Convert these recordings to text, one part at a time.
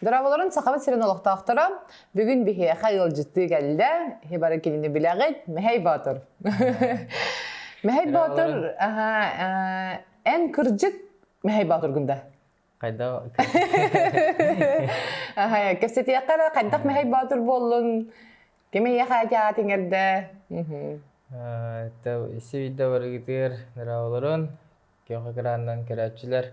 Здраволарын Сахабыт сирин олохтоохторо, бүгүн биһиэхэ ыалдьыттыы кэллэ, бары кинини билэҕит, Мэхэй Боотур. Мэхэй Боотур, эн кырдьык Мэхэй Боотургун да? хайдах Аһай, кэпсэтиэххэ эрэ хайдах мэһэй боотур буоллун кимиэхэ дьаат иҥэрдэ сибидэ барыгытыыр нраволорун көхө кырааннан көрөөччүлэр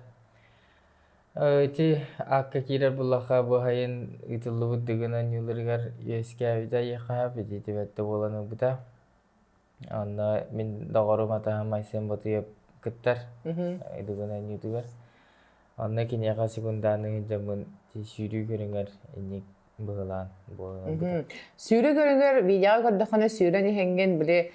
ити акка киирэр буллаха буһайын ыытыллыбыт дыгына ньылырыгар үөскээбитэ еқаһа бититибетте болан ылбыта Онно мин доҕорум атаһым Айсен Ботуев кыттар Идугунан ютубер. Онно киниэхэ секундааны сылдьаммын сүүрүү көрүҥэр инник быһылаан буолан Сүүрүү көрүҥэр видеоҕа көрдөххүнэ сүүрэн иһэҥҥин били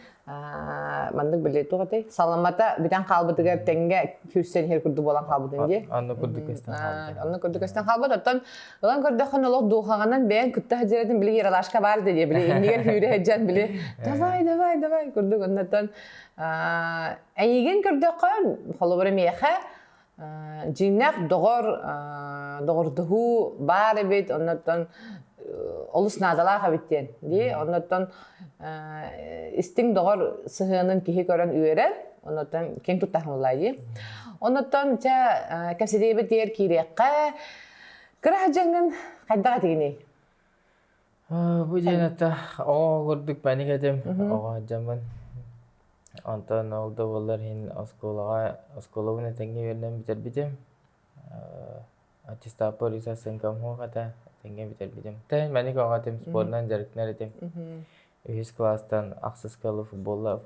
маннык били туох этэй саламата бүтэн хаалбытыгар тэҥҥэ күүрсэн иһэр курдук буолан хаалбытын дии. Онно курдук көстөн хаалбыт. Онно курдук көстөн хаалбыт. Оттон Ылан көрдөххүнэ олох духаҕанан бэйэн кытта сылдьарытын били Ералашка бар диye били иннигэр сүүрэ сылдьан били давай давай давай курдук оннотон эйигин көрдөххө холобура миэхэ дьиҥнэх доҕор доҕордоһуу баар эбит оннотон олус наадалаах эбит диэн дии оннотон истиҥ доҕор сыһыанын киһи көрөн үөрэн оннотон ким тутаһылай дии оннотон чэ кэпсэтиэбит дигэр киириэххэ Кыра дьаҥын хайдах этигиний? Бу диэн ата оҕо курдук мэник этим. Оҕо дьоммун. Онтон ол да буоллар иһин оскуолаҕа оскуолабын этэҥҥэ үөрэнэн бүтэрбитим. Аттестаппар исас сыҥкам суох этэ. Этэҥҥэ бүтэрбитим. Тэһин мэник оҕо этим, спорунан дьарыктанар этим. үһүс кылаастан ахсыскалы футболла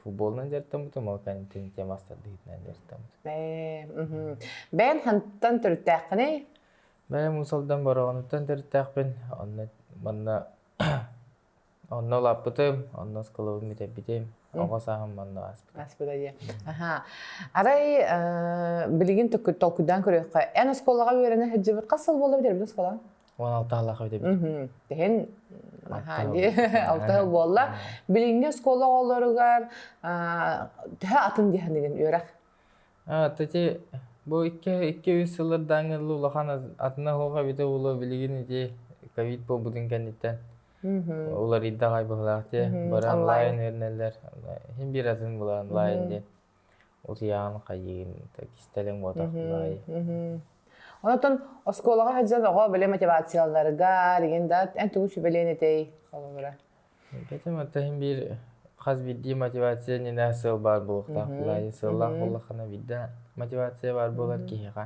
футболунан дьарыктаммытым ол каникулин тема астардыытынан дьарыктаммытым бэйэн хантан төрүттээххиний бэйэм мусалдан бороҕонуттан төрүттээхпин онно манна онно улааппытым онно осколобун бүтэрбитим оҕо сааһым манна ааспыта ааспыта диye аха арай билигин толкуйдаан көрүөххэ эн оскуолаҕа үөрэнэ сылдьыбыт хас сыл буолла бүтэрбит оскуолаҕа он алтаалаах өйдөбүл Тиһин аха ди алта буолла билиҥҥи оскуола оҕолоругар төһө атын диһанигин үөрэх тати бу икки икки үс сылыр дааҥы ылы улахан атына хоха бите уло билигин ити ковид буолбутун кэнниттэн уларыйда ай быһылаах те бары онлайн өрнеллер хин бир атын була онлайн диэн Утуйаҕын хайыын, кистэлиҥ уотахлай. Онтон оскуолаҕа сылдьан оҕо билэ мотивацияларыгар, игин да эн тугу сүбэлиэн этэй холобура? Бэтим аттаһын биир хас биирдии мотивация иннинэ сыал баар буолуохтаах буолаайын сыаллаах буоллаххына биирдэ мотивация баар буолар киһиэхэ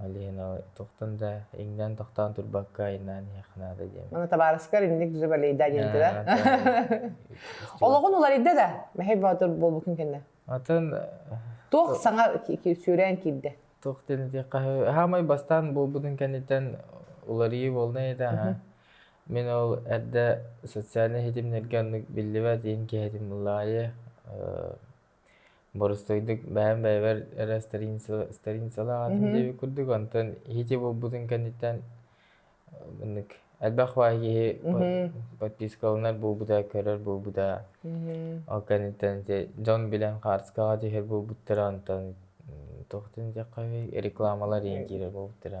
Ол иһин ол туохтан да иҥнэн тохтоон турбакка айнаан иһиэххэ наада диэм. Аны табаарыскар инник дьыбалейда диэбитэ да. Олоҕун уларыйда да, мэһэй боотур буолбуккун кэннэ. Атын Туох саҥа сүүрээн киирдэ? Туох дэнитиэххэ хаамай бастаан буолбутун кэнниттэн уларыйыы буолнай да аха. Мин ол эрдэ социальнай ситимнэргэ оннук биллибэт иһин киһитим ылаайы Боростуойдук бэйэм бэйэбэр эрэ старинцалаах этим диэбит курдук, онтон иһити булбутун кэнниттэн маннык элбэх баай киһи подпискаланар буолбута, көрөр буолбута. Ол кэнниттэн дьон билэн хаартыскаҕа түһэр буолбуттара, онтон туохтан диэххэ рекламалар иһин киирэр буолбуттара.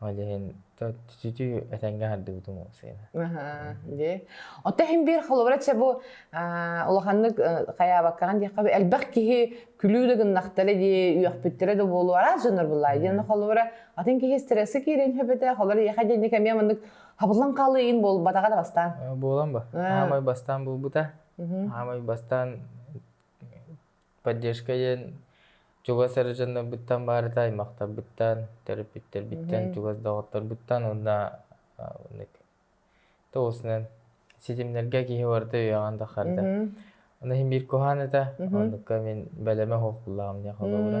Ол иһин ситүү этэҥҥэ аһардыбытым ол сыыны. Аһаа, дии. Оттон иһин биир холобура чэ бу улаханнык хайаабаккаҕын диэххэ элбэх киһи күлүү да гыннахтара дии, үөхпүттэрэ да буолуо араас дьоннор быллаа диэн холобура атын киһи стрессы киирэн сөпөтө, холор ийэхэ диэник эмиэ маннык хабыллан хаалыйын буолбатаҕа да бастаан. Буолан бо. Аамай бастаан буолбута. Аамай бастаан поддержка диэн чугас ырыжаннарбыттан баарыта аймахтарбыттан төрөппүттэрбиттэн чугас доҕотторбуттан уонна тоҕуоснан ситимнэргэ киһи барыта үөҕэн да харда аны иһин биир куһаан этэ оннукка мин бэлэмэ холкуллаҕым дии холобура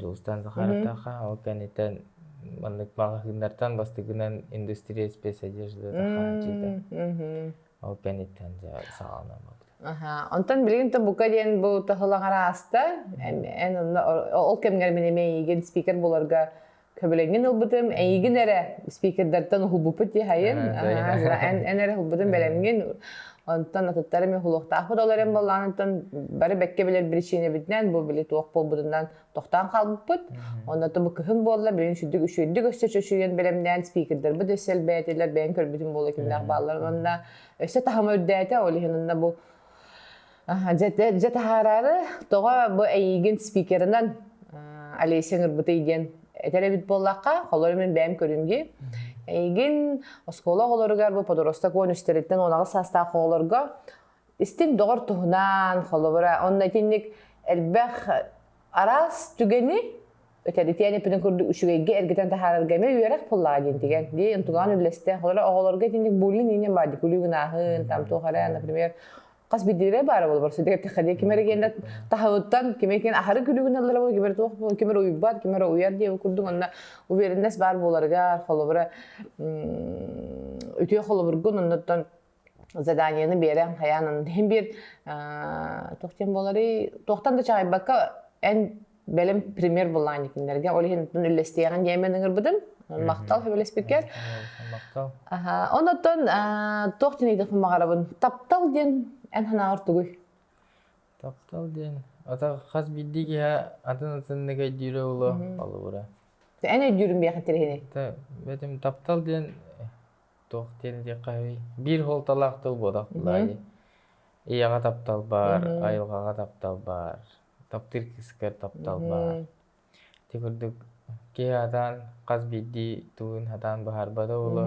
Дьулустаан Захаровтаахха ол кэнниттэн маннык маҕаһыыннартан бастакынан индустриал спецодежда хааччыйда. Ол кэнниттэн дьэ саҕалана барда. Аха. Онтон билигин то бука диэн бу таһылаҕар ааста. Эн ылла ол кэмҥэр мин эмиэ эйигин спикер буларга Көбүлэҥин ылбытым, эйигин эрэ спикердэртэн уһулбуппут диэхэйин, эн эрэ уһулбутун бэлэмҥин, онтон атыттары мен улуохтаахпыт ол эрэн боллааныттан бары бэккэ билэр причинэбитинэн бу били туох буолбутунан тохтоон хаалбыппыт. Онноту бу кыһын буолла, билин үчүдүк үчүйдүк өссө чөчүйэн бэлэмнээн спикердэрбит өссө элбээтилэр, бэйэн көрбүтүм буола кинилэр баалларын онна өссө таһыма үрдээтэ, ол иһин онно бу Дьэ таһаараары, тоҕо бу эйигин спикерынан Олеся Нырбытый диэн этэр эбит буоллахха, холор мин бэйэм көрүнги. Эйигин оскуола оҕолоругар бу подоросток уон үстэриттэн онаҕы саастаах оҕолорго истин доҕор туһунан, холобура, онно итинник элбэх араас түгэни Этэритиэн эппитин курдук, үчүгэйгэ эргитэн таһаарарга эмиэ үөрэх буллаҕа диэн тигэн. Дии интугаан үллэстэ. Олор оҕолорго итинник буллин иннин баар дикулүү гынаахын, там туох эрэ, например, хас бидилирэ баара болбор сидигэттэхэ дии кимер генде таһыттан киме кен ахары күлүгүн аллара бу кимер туох кимер уйбат кимер уйар диэн курдук онна уверенность бар боларга холобура үтүө холобургун оннуттан заданиены биэрэн хайаан аны иһин биир туох диэн буоларый туохтан да чаҕыйбакка эн бэлэм пример буллаан кинилэргэ ол иһин үллэстиэҕин диэмэн ыҥырбытым махтал сөбүлэспиккэр махтал онон туох динейдэх мамаҕарабын таптал диэн эн санааҕар тугуй таптал диэн ата хас биирдии киһи атын атыннык өйдүүрэ уло холобура эн өйдүүрүн биэхин тириһини бэтим таптал диэн туох диэн диэххэ биир суолталаах тыл буолуох баай ийэҕэ таптал баар айылҕаҕа таптал баар таптыыр кыыскыгар таптал баар ити курдук киһи атаан хас биирдии тылын атаан быһаарбата буолуо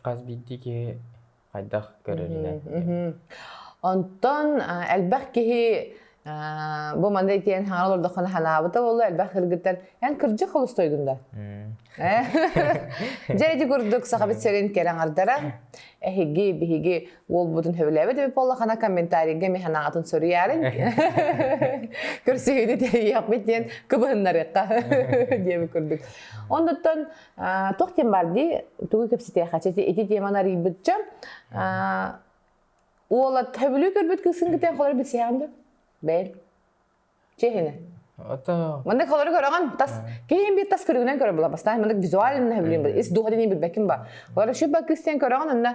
хас биирдии киһи хайдах көрөрүнэн онтон элбэх киһи бу мандай диэн хаҥар олордоххуна санаабыта болу элбэх кыргыттар эн кырдьык холустойдун да дьэ ити курдук сахабыт сэрин кэраҥардара эһиги биһиги уолбутун сөбүлээбит эбит буоллаххына комментарийга мен санаатын суруйарын көрсүһүүнү тэрийиэхпит диэн кыбыһыннарыахха диэбит курдук оннуттан туох диэн баардыы тугу кэпсэтиэхэ ити теманы арыйбыт дьон уола төбүлүү көрбүт кыысынгытын холор билсиэҕин деп бэйэн чеһине Маннык холору көрөҕөн тас киһин биир тас көрүгүнэн көрө була бастаан маннык визуально хөбүлүн ис дууһатын билбэккин ба олар үшү ба кыстен көрөҕөн онна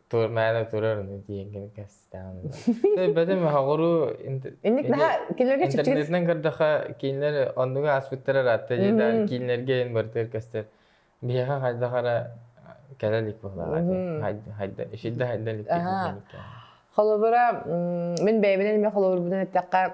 Тур мээнэ турар диэҥҥин кэстээн. Өйбөтүм хоҕуруу инник наһаа кинилэргэ чэпчэки интернетинэн көрдөхө кинилэр оннуга ааспыттар аратта дьиэдаар кинилэргэ эн бартыгар көстөр биһиэхэ хайдах ара кэлэ илик буоллаҕа хайда ишилде хайда илик холобура мин бэйэбинэн эмиэ холобурбунан эттэххэ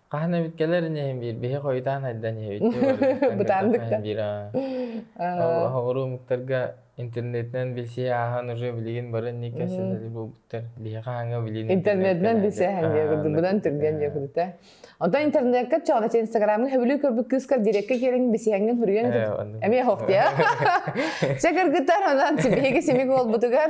Хаһан эбит кэлэрин иһин биир биһи хойутаан айдан иһэбит дии барыбыттан кэлбэтэх Бытааннык да. иһин биир аа. Aa, Оҕолору ымыктарга интернетинэн билсии ааһан уже билигин бары никэ мм. силэли буолбуттар. Биһи хаһааҥҥа билиин интернетинэн интернеттэн билсээһин диэбит, быдан түргэн диэбиттэ. Оттон интернетка чоҕнача инстаграмҥа хөбүлүү көрбүт кыыскар дирекка киэриҥ билсиһиҥҥин суруйан Э, этит. оннук. Эмиэ хох диэ. Чэ кыргыттар, онон биһиги симик уолбутугар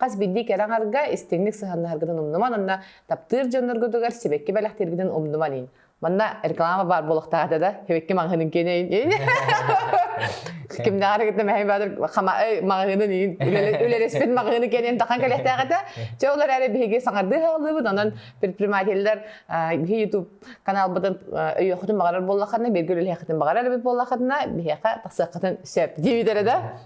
Хас биирдии кэрэ аҥарга истиҥник сыһаннаһаргытын умнуман уонна таптыыр дьонноргутугар сибэкки бэлэхтииргитин умнуман иин. Манна реклама баар буолуохтаата да, сибэкки маҕаһыынын киэнэйин. Кимнээҕэр кытта мэһэй баатыр маҕаһыынын иин. Үлэлэспит маҕаһыыны киэнэйим тахан кэлиэхтээҕэтэ. Чэ олор эрэ биһиги саҥардыы хааллыбыт, онон предпринимателлэр биһи YouTube каналбытын өйүөххүтүн баҕарар буоллаххына, бииргэ үлэлэһиэххитин баҕарар эбит буоллаххына, биһиэхэ тахсыаххытын сөп. Диибитэрэ да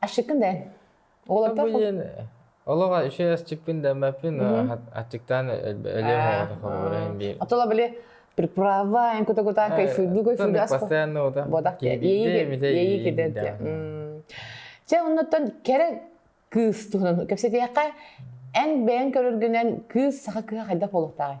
Ашыккын да Уолаттар Олоҕо үчүгэй асчыппын да маппын аччыктаан өлүөм оҕото холобурын биир. Отола были приправа эн кута кута кайфуйду кайфуйду ас постоянно ота бодах яйы кететке че оннуттан кэрэ кыыс туһунан кэпсэтиэхэ эн бэйэн көрөргүнэн кыыс саха кыһа хайдах болуктааҕай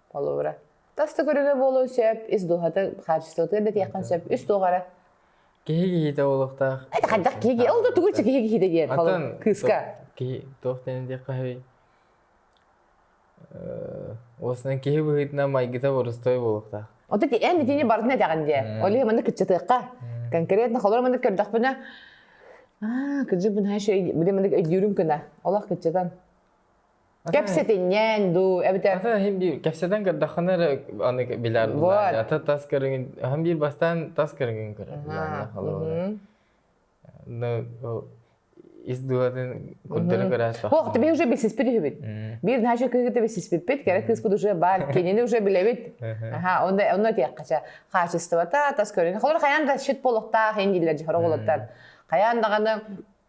Холура. Тас да көрүҥэ буолуон сөп, ис дууһата, хаачыстыбата да тиэххин сөп, үс туох эрэ. Киһи киһитэ буолуохтаах. Это хайдах киһи, ол да тугу киһи киһитэ диэн, холур кыыска. Киһи туох диэн диэххэ сөбүй? Уосунан киһи быһыытынан майгыта борустуой буолуохтаах. Ота ти эн итини бартын этэҕин дии. Олиһи маннык кыччатыахха. Конкретно холор маннык көрдөхпүнэ аа кырдьык бу наша били маннык өйдүүрүм кына. Олох кыччатан. Кэпсэтинньээн дуу, эбэтэр Ата эһим биир кэпсэтэн көрдөххүнэ эрэ аны билэр буулаан. Вот. Ата тас көрүҥүн эһим биир бастаан тас көрүҥүн көрөр билааннаах холобура. Но ис дууһатын курдары көрөөт Ох, тебе уже билсиспит үһүбүт. Биир наша кыыгыты билсиспиппит, кэрэ кыыспыт уже бар, кинини уже билэбит. Аха, онно онно диэххэчэ хаачыстыбата, тас көрүҥ. Холор хайаан да шит болуктаах ин дииллэр жихор оголоттар. Хайаан даҕаны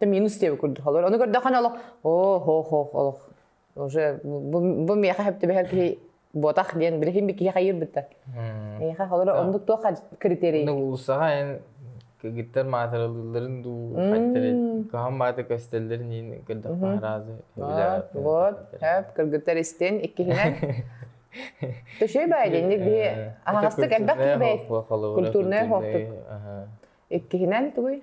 минус диэбит курдук олор ону көрдөххүнэ олох оо хоох хоох олох уже бу миэхэ хэптибэһэр киһи ботах диэн билигин би киһи хайыырбыт да миэхэ олор оннук туох критерий улуссаҕа эн кыргыттар маатыралыылларын дуу хаттары каһан баата көстөллөрүн иин көрдөхпө разы вот эп кыргыттар истин иккиһинэн төшөй баайдинник би аһастык элбэх кирбей культурная хохтук иккиһинэн тугуй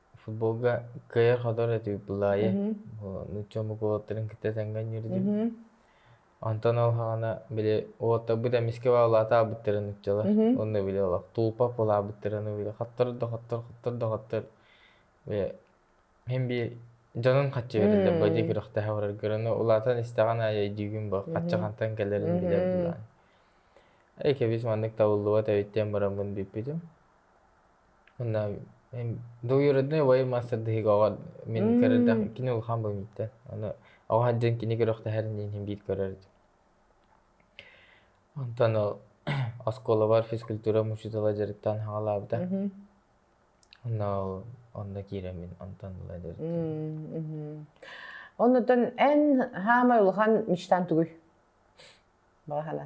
футболга кыайар-хотор этибит былаайы нуучча омук кытта тэҥҥэ өнньүрдүм онтон ол саҕана били уолаттарбыт эмискэ улаата аабыттара нууччалар онно били олох туупап улаабыттара аны били хоттор да хоттор хоттор да хоттор били мин бии дьонун хаччы бэриллэр бадьы күрэхтэһэ бараргар аны улаатан истэҕин аайы өйдүүгүн бу хаччы хантан кэлэрин билэр былаан эки бис маннык табыллыбат эбит диэн бараммын бүппүтүм Мында доруодунай убайым маастардыһыгоҕо мин көрөрдөөх кини улахан быһыммыттан аны оҕо сылдьан кини күрэхтэһэрин иһин иһин биир көрөрдүм онтон ол оскуолабар физкультура учуутала дьарыктаан саҕалаабыта онно ол онно киирэн мин онтон ыла дьарыктаабытым оннуттан эн саамай улахан мечтаҥ тугуй балаһана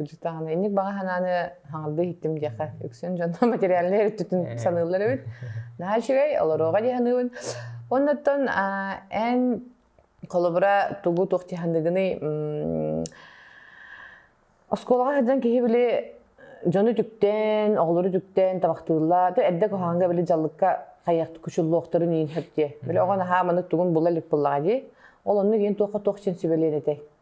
Учуутааны инник баҕа санааны хаҥардыы иһиттим диэххэ үксүн дьонно материальнай өрүттүтүн саныыллар эбит. Наһаа үчүгэй, олоруоҕа дии саныыбын. Оннуттан эн холобура тугу туох дьаһаныгыный оскуолаҕа сылдьан киһи били дьону үтүктэн, оҕолору үтүктэн табахтыылла, эрдэ куһаҕанга били дьаллыкка хайыахта кучуллуохтарын иин сөп диэ. Били оҕо наһаа маннык тугун була илик буоллаҕа дии. Ол оннук иэн туохха туох син сүбэлиэн этэй?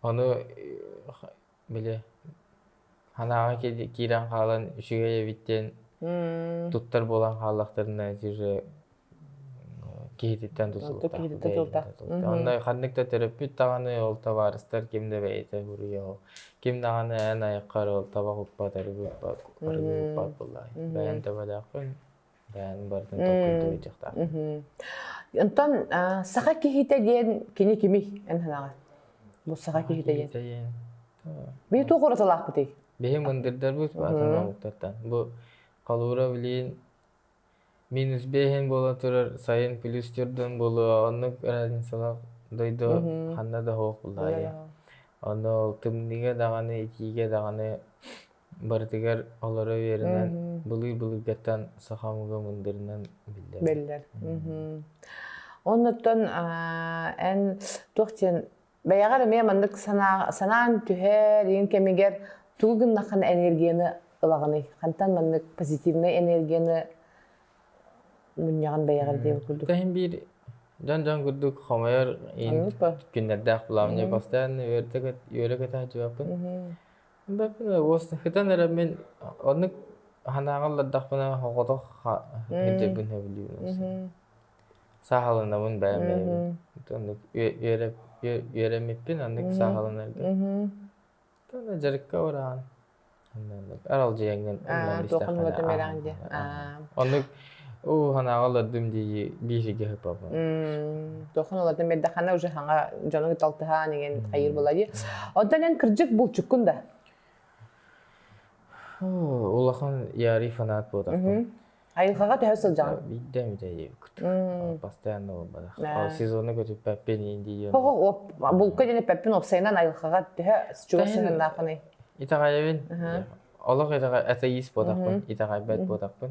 Ону били ханааҕы киирэн хаалан үчүгэй эбит диэн туттар буолан хааллахтарына дьиже киһититтэн тутулуктаахпытай. Онно ханнык да төрөппүт даҕаны ол табаарыстар ким да бэйэтэ буруйа ол ким даҕаны эн айаххар ол таба куппат арыгы куппат арыгы куппат буоллаҕа. Бэйэн табалаахпын Онтон саха киһитэ диэн кини кими эн санаҕа? Бу саха киһитэ диэн. Бии туох уратылаахпытый? Бихи мындырдарбыт баатанабыттартан. Бу Калура билин минус бейхен бола турар сайын плюс түрдөн болу оннук разницалах дойду ханна да хоох булайы. Ону тымныга даҕаны итиигэ даҕаны барытыгар олоро үөрэнэн былыыр-былыргаттан саха омуга мындырынан биллэр биллэр оннуттан эн туох диэн бэйэҕэр эмиэ маннык санаан түһэр иҥ кэмигэр тугу гыннаххына энергияны ылаҕыный хантан маннык позитивнай энергияны мунньаҕын бэйэҕэр диэн курдук кэһин биир дьон дьон курдук хомойор иин күннэрдээх былаамньа бастаан үөрэ көтөҕө дьыбаппын Сытан эрэ мин оннук санааҕа олордохпуна оҕолор ирдэбилин сөбүлүүбүн сааһыланабын бэйэм бэйэбин үөрэммиппин оннук сааһыланарга итиэннэ дьарыкка ураан аралдьыйаҥҥын оннук Оо, санааҕа олордум дии биһиги хапабын. М, тохон олордон бэрдэ хана уже хаҥа дьонуҥ талтыһаан иҥин хайыр булайы. Оттон эн кырдьык булчуккун да? Оо, улахан ярый фанат буолтахпын. Айылҕаҕа төһө сылдьаҕын? Биирдэ эмит эйиэбит. М. Постоянно буолбатах. Э. Сезону көтүппэппин индийиэн. Хоһо булка диэн эппэппин уопсайынан айылҕаҕа төһө чугас сыһыаннааххыный? Итэҕэйэбин. Аха. Олох итэҕэ атеист буолтахпын, итэҕэйбэт буолтахпын.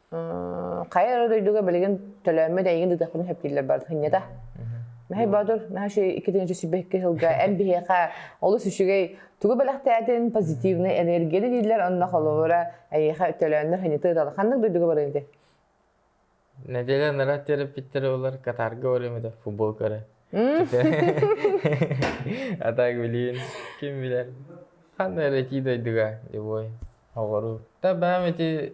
хайа эрэ дойдуга билигин төлөөммүт эйигин ыытахпын сөптүүллэр бар хынньата Мэхэй Боотур, наша иккитинчи сибэкки сылга эн биһиэхэ олус үчүгэй тугу бэлэхтээтин позитивный энергияны дииллэр онно холобура эйиэхэ төлөөннөр ханьыты ыталы ханнык дойдуга барыыты Неделя народ терапевтері олар Катарға орымыда футбол көрі. А так, блин, ким білер. Қандай эти дойдуға, любой. Оғыру. Та бәм эти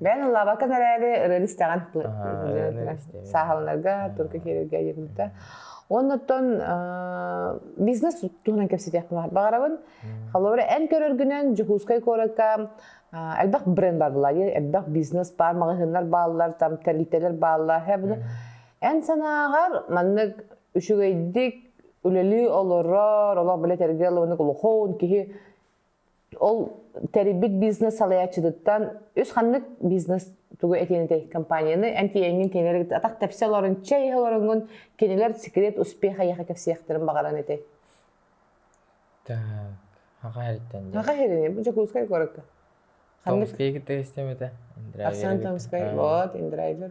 Бэйэн лабакан эрээри ырыаны истэҕин сааһаланарга, турка киирэргэ диэбитэ. Оннуттан бизнес туһунан кэпсэтиэх баар баҕарабын. Холобура, эн көрөргүнэн Дьокуускай куоракка элбэх бренд бар была, элбэх бизнес бар, маҕаһыыннар бааллар, там тэрилтэлэр бааллар. Эн санааҕар маннык үчүгэйдик үлэлии олорор, олох билэ тергэл ылыннык улахан киһи ол тэрийбит бизнес салайааччытыттан үс ханнык бизнес тугу этиэн этэй компанияны эн тиэҥҥин кинилэр атах тэпсэ олорон чэй иһэ олороҥҥун кинилэр секрет успеха эйиэхэ кэпсиэхтэрин баҕаран этэй так аҕа ириттэн аҕа ирини бу дьокуускай куоракка томскайга тестем этэ томскай вот индрайвер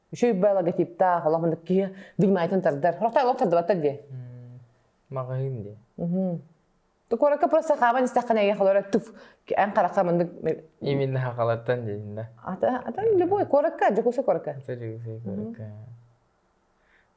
Үчүй бай логотиптаах, олох мындык киһи вниманиетын тардар. Олохтай олох тардыбаттар диэ. Маҕаһыын диэ. Куоракка просто хааман истэххинэ эйэ халара туф эн харахха мындык именно хахалартан диэннэ. Ата ата любой куоракка Дьокуускай куоракка. Дьокуускай куоракка.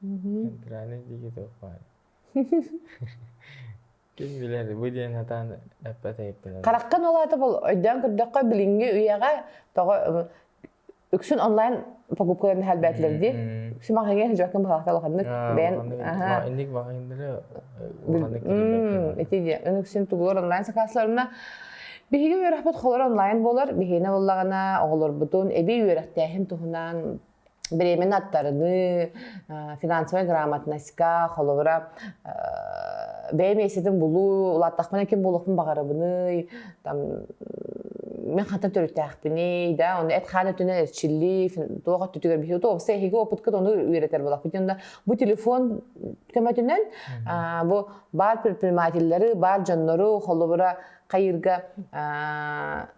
центральный диgital файл ким билэр бу диэн сатаан эппэтэйиттэнэр хараххын улаата бол өйдөөн көрдөххө билиҥҥи үйэҕэ тоҕо үксүн онлайн покупкаларын хальбээтилэр дии симаҕаҥҥа сыдьаккын баҕахта улаханнык бэйэн инник баҕайындары ити диэн үксүн тугулар онлайн сакаасыларына биһиги үөрэхпит холоро онлайн буолар биһиэнэ буоллаҕына оҕолорбутун эбии үөрэхтээһин туһунан Бремень аттарыныы, финансовая грамотноска, холобура, бэйэ миэсэтин булуу, улааттахпына ким буолуохпун баҕарабыный, там мен хантан төрүттээхпиний, да, ону эт хаан өттүнэн эрчиллии, туох өттүтүгэр биһи туопса эһиги опыткыт ону үөрэтэр буолахпыт онда бу телефон көмөтүнэн бу бар предпринимателлэри, бар дьоннору, холобура, хайыырга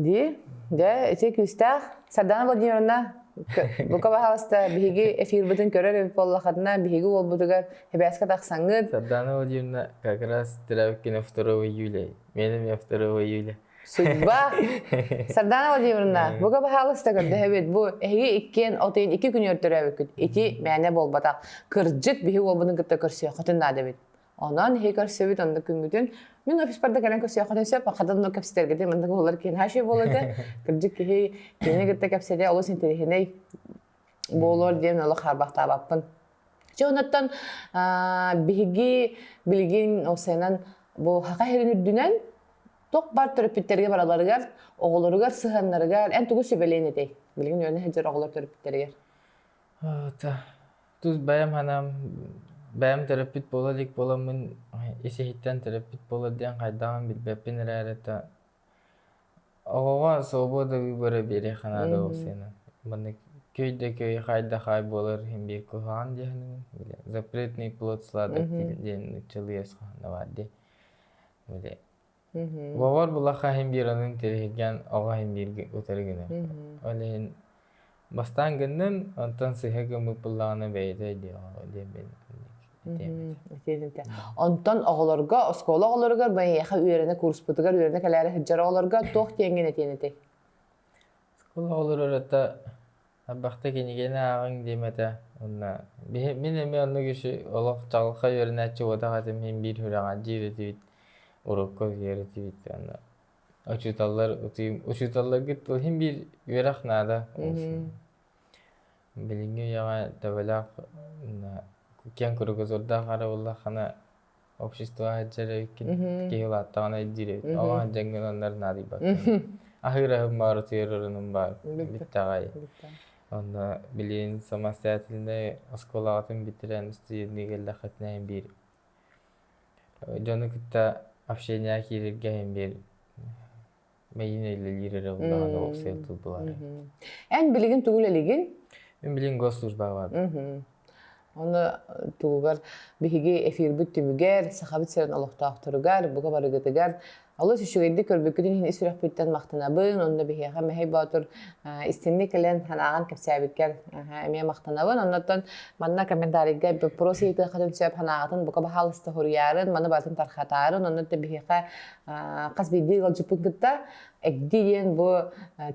Дии. Дьэ, ити күүстээх. Сардана Владимировна, бука пожалуйста, биһиги эфирбытын көрөр эбит буоллаххытына, биһиги уолбутугар эбээскэ тахсаҥҥыт. Сардана Владимировна как раз Травкина 2 июля. Меняме 2 июля. Судьба! Сардана Владимировна, бука пожалуйста көрдөһөбүт. Бу эһиги иккиэн от ыйын икки күн өртөрөөбүккүт. Ити мээнэ буолбатах. Кырдьык, биһиги уолбутун кытта көрсүөххүтүн наада эбит. Онон иһи көрсөбүт, онно күҥҥүтүн. Мин офиспар да кэлэн көрсүөххүтүн сөп, хатан да кэпсэтэргитин, манна куһулар киһи нааши буолуота. Кырдьык киһи кини кытта кэпсэтэ олус интэриэһинэй буолуор диэн олох харбахтаабаппын. Чэ онуттан биһиги билигин ол сайынан бу хака иһирин үрдүнэн ток бар төрөппүттэргэ бараларыгар, оҕолоругар сыһаннарыгар эн тугу сүбэлээн этэй? Билигин үөнэ сылдьар оҕолор төрөппүттэригэр. Ата тус бэйэм санаам бэйэм төрөппүт буола илик буоламмын ис-иһиттэн төрөппүт буолар диэн хайдаҕын билбэппин эрээри та оҕоҕо свободалыы бара биэриэххэ наада ол сыанан маннык көй да көй хай да хай буолар иһин биир куһаҕан дьиэһинэн били запретные плод сладок диэн ыччалыы өс хаһан да баар дии били Бобор булахха иһин биранын тириһиргэн оҕо иһин бииргэ утары гынар. Ол иһин бастаан гыннын, онтон сыһа гыммыт буллаҕына бэйэтэ диэҕэ диэммин этиэбит. Онтон оҕолорго, оскуола оҕолоругар, байыаха үөрэнэ курспутугар үөрэнэ кэлээри сылдьар оҕолорго туох диэҥҥин этиэн этэй? Скул оҕолору элбэхтик кинигэни ааҕыҥ диэм этэ уонна биһи мин эмиэ оннук үсү олох чаҕылхай үөрэнээччи уотах этим иһин биир үрэҕи дьиир этибит урукку үһүйэр этибит уонна учууталлар утуйум учууталларгыт тыл иһин биир үөрэх наада буолсун билиҥҥи үйэҕэ төбөлөөх киэҥ куругусурдаах арыллаххына общество сылдьар эбиккин киһи улааттаҕына илдьирэбит оҕо дьэҥҥин оннор наадыйбаттар аһыыраһым баар утуйарырыным баар бүттэҕэй онно билин самостоятельный оскуолаҕытын бүтэрэн студентҥэ кэллэххитинэ эһин биир дьону кытта общение киирэргэ эһин биир Мэйине үлэлиир өрө улахан уопсай тутулар. Эн билигин тугул элигин? Мен билигин госслужбаға бардым. Оны тугугар биһиги эфирбит түмүгэр, сахабыт сирин олохтоохторугар, бука барыгытыгар олус үчүгэйдик көрбүккүтүн иһин үсүрөхпүттэн мақтанабын, онно биһиэхэ Мэхэй Боотур истинни кэлэн санааҕан кэпсээбиккэр эмиэ мақтанабын. Оннотон манна комментарийга вопрос ыйытыахатын сөп санааҕатын бука баһаалыста хуруйарын, маны барытын тархатарын, онно биһиэхэ хас биирдии ыалдьыппыт кытта эгди диэн бу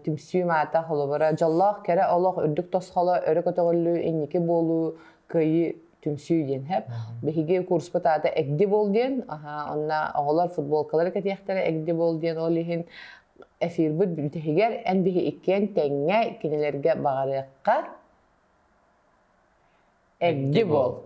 түмсүү маата холобура дьоллоох кэрэ олох үрдүк тосхоло өрө көтөҕүллүү инники буолуу кыайыы түмсүү диэн хэп биһиги курспут аата эгди буол диэн онно оҕолор футболкалары кэтиэхтэрэ эгди буол диэн ол иһин эфирбыт бүтэһигэр эн биһи иккиэн тэҥҥэ кинилэргэ баҕарыахха Эгди буол.